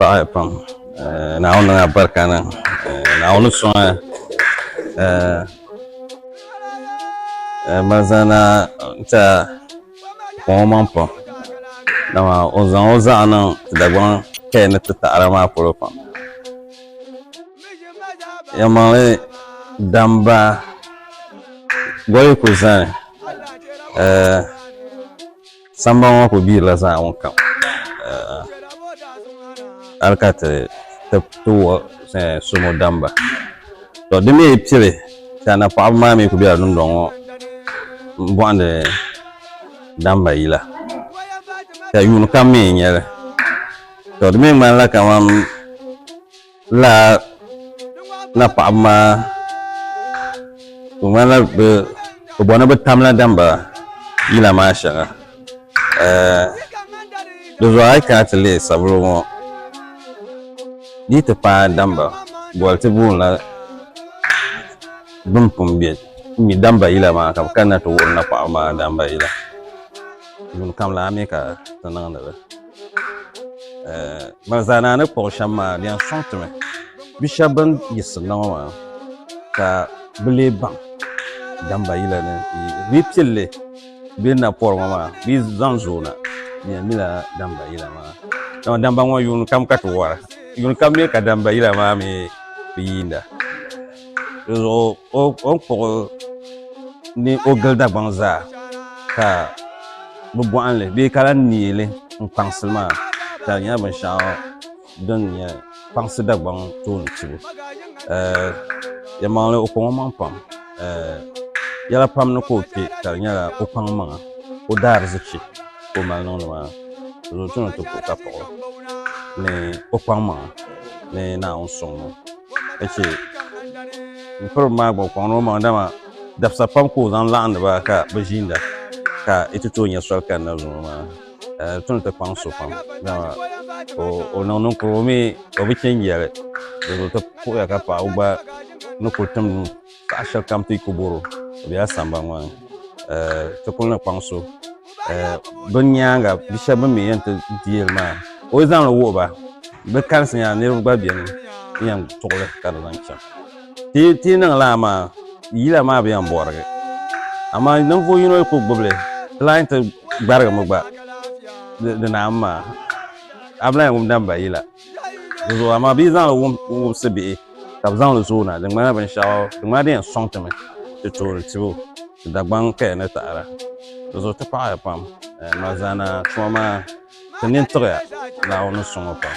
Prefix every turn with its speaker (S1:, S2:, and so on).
S1: paɣa pam naawuni niŋ abarika niŋ naawuni suŋ malizana ta kuŋ o maŋ pam dama o zaŋ o zaɣa niŋ dagbaŋ kaya ni ti taɣara maa polo pam ya maŋli damba goli ku zani Sambani ŋɔ ku biirila zaa ŋun kam eh, hali ka ti ti wuɣi eh, somo damba to di mii pili ka na paɣaba maa mii ku biɛla dundɔŋ ŋɔ n bɔhindi damba yila ka yuun kam mii nyɛli to di mii ŋmanila kamani Lala napaɣaba maa di ŋmanila bi bɔni bi tamla dambara yila maa shɛŋa di zuɣu a yi kana ti lihi sabulu ŋɔ di yi ti paai damba bɔli ti boonila bin pun bɛ mi damba yila maa ka bi kanna ti wuhiri napaɣaba maa damba yila yuun kam lana mi ka ti niŋdi ba. ban zaa naa ni kpuɣi shɛm maa di yɛn sɔŋ ti mi bi shɛba bin yiɣisiri na ŋɔ maa ka bi lee baŋ damba yila ni bi yi pili li bi ni na pɔri ŋɔ maa bi yi zaŋ zooi na di yɛn nyɛla damba yila maa dama damba ŋɔ yuuni kam ka ti wara yuuni kam mi ka damba yila maa mi bi yiinda. Dizuɣu o ni kpuɣi ni o gili Dagbaŋ zaa ka bi bɔhimli bee ka lahi neeli n kpaŋsili maa ka di nyɛla binshɛɣu din nyɛ kpaŋsi Dagbaŋ tooni tibu yɛlimaŋli o kɔŋ o maŋa pam yɛla pam ni ka o kpɛ ka di nyɛla o kpaŋ maŋa o daarizichi ka o mali niŋdi maa dizuɣu o chaŋ ni o ti kpuɣi ka kpuɣi ni o kpaŋ maŋa ni Naawuni suŋ maa. ka chɛ n piribi maa gba o kɔŋla o maŋa dama dabisa pam ka o zaŋ laɣandi ba ka bi ʒiinda ka yi ti tooi nyɛ soli kanna zuŋɔ maa ka di tom ti kpaŋ so pam dama o niŋ ninkurigu mii o bi chɛ n yɛli di zuɣu ti puɣuya ka paɣaba gba ni ku tim Paɣa shɛba kam ti ku boro o bela sambani ŋɔ ni ti kuli ni kpaŋ so bɛ nyaaŋa bi shɛba bɛ mi yɛn ti deeri maa ka o zaŋ li wuhi ba bɛ kalisi nya niriba gba beni n yɛn tuɣi li ka di zaŋ chaŋ ti yi niŋ lala maa yila maa bi yɛn bɔrigi amaa ninvuɣ yino ku gbubi li di lahi yɛn ti gbarigimi gba di naai mi maa a bi lahi yɛn wumdila m ba yila. Di zuɣu amaa bɛ yi zaŋ li wumsi bihi ka bɛ zaŋ li zooi na di ŋmanila binshɛɣu di ŋmanila di yɛn sɔŋ ti mi ti toori tibu ti Dagbaŋ kaya ni taada di zuɣu ti paɣi ya pam Malzaana tuma maa ti nini tiɣi ya Naawuni ni suŋ o pam.